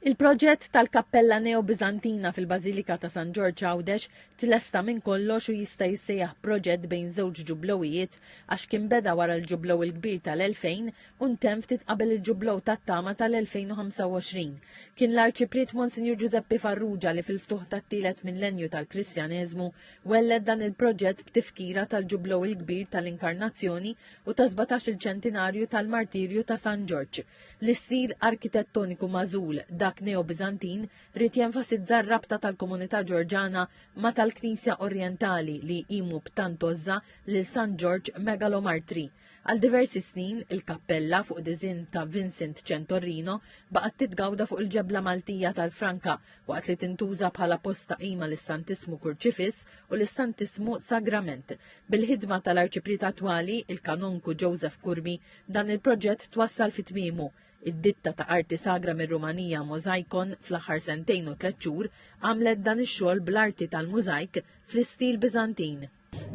Il-proġett tal-kappella Neobiżantina fil-Bażilika ta' San Ġorġ Għawdex tlesta minn kollox u jista' jissejjaħ proġett bejn żewġ ġublowijiet għax kien beda wara l-Ġublow il-Kbir tal-2000 u ntemm ftit qabel il-Ġublow tat-Tama tal-2025. Kien l-Arċipriet Monsinjur Ġużeppi Farrugia li fil-ftuħ tat-tielet millenju tal-Kristjaneżmu welled dan il-proġett b'tifkira tal-Ġublow il-Kbir tal-Inkarnazzjoni u tas-sbatax-il ċentinarju tal-martirju ta' San Ġorġ. L-istil arkitettoniku magħżul, dak Neobiżantin, ried jenfasizza r-rabta tal-komunità Ġorġana ma' tal-Knisja Orjentali li jqimu b'tant għożża lil San Ġorġ Megalomartri. Għal diversi snin, il-kappella, fuq diżinn ta' Vincent Centorrino, baqgħet titgawda fuq il-ġebla Maltija tal-Franka, waqt li tintuża bħala post ta' qima lis-Santissmu Kurċifiss u lis-Santissmu Sagrament. Bil-ħidma tal-Arċipriet attwali, il-Kanonku Joseph Curmi, Dan il-proġett twassal fi tmiemu. Id-ditta ta' arti sagra mir-Rumanija Mozaikon fl-aħħar sentejn u tliet xhur għamlet dan ix-xogħol bl-arti tal-mużajk fl-istil Biżantin.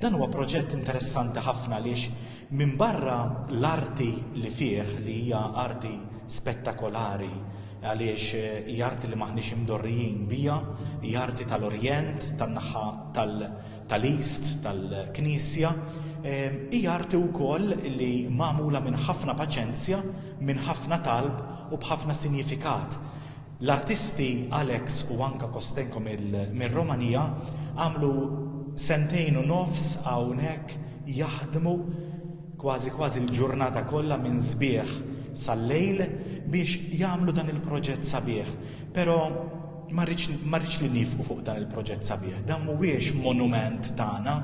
Dan huwa proġett interessanti ħafna għaliex minbarra l-arti li fih li hija arti spettakolari għaliex hija arti li m'aħniex imdorrijin biha, hija arti tal-Orjent, tan-naħa tal-East tal-Knisja, hija arti wkoll li magħmula minn ħafna paċenzja, minn ħafna talb u b'ħafna sinjifikat. L-artisti Alex u Anka Kostenko mir-Romanija għamlu sentejn u nofs hawnhekk jaħdmu kważi kważi l-ġurnata kollha minn sbieħ sal-lejl biex jagħmlu dan il-proġett sabiħ. Però Ma rridx li niefqu fuq dan il-proġett sabiħ. Dan mhuwiex monument tagħna.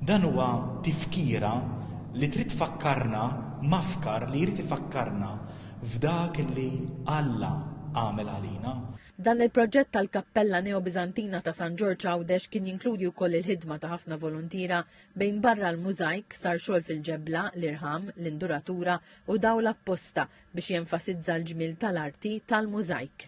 Dan huwa tifkira li trid tfakkarna, mafkar li jrid ifakkarna f'dak li Alla għamel għalina. Dan il-proġett tal-kappella Neobiżantina ta' San Ġorġ Għawdex kien jinkludi wkoll il-ħidma ta' ħafna voluntiera bejn barra l-mużajk sar xogħol fil-ġebla, l-irħam, l-induratura u dawl apposta biex jenfasizza l-ġmiel tal-arti tal-mużajk.